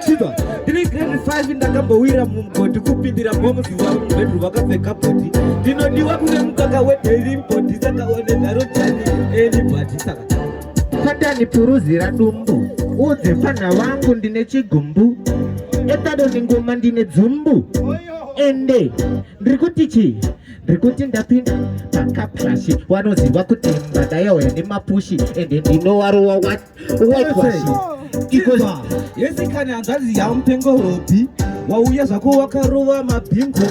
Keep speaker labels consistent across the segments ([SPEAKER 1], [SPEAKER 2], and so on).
[SPEAKER 1] Chiva, ndiri grade 5 ndakambowira mumugodi kupindira bomu zuva mubhedru vakapfeka bhoti ndinodiwa kune mukaka wedheri mbodi saka one nharo tani enibhati saka tatani
[SPEAKER 2] puruzira dumbu udze mfanha wangu ndine chigumbu etadoni ngoma ndine dzumbu ende ndiri kuti chii ndiri kuti ndapinda pakaplashi wanoziva kuti mbada yauya nemapushi ende ndinowarowa wati
[SPEAKER 1] yesikani hanzvadzi yamupengo hopi wauya zvako wakarova mabhingo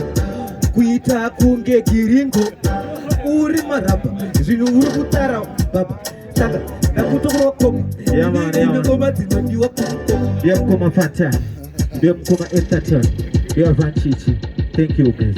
[SPEAKER 1] kuita kunge giringo uri maramba zvinhu uri kutara baba saka ndakutokurwa koma ine ngoma dzinodiwa kumukoma fata
[SPEAKER 2] ndemukoma etaton yavanchichi thank you guys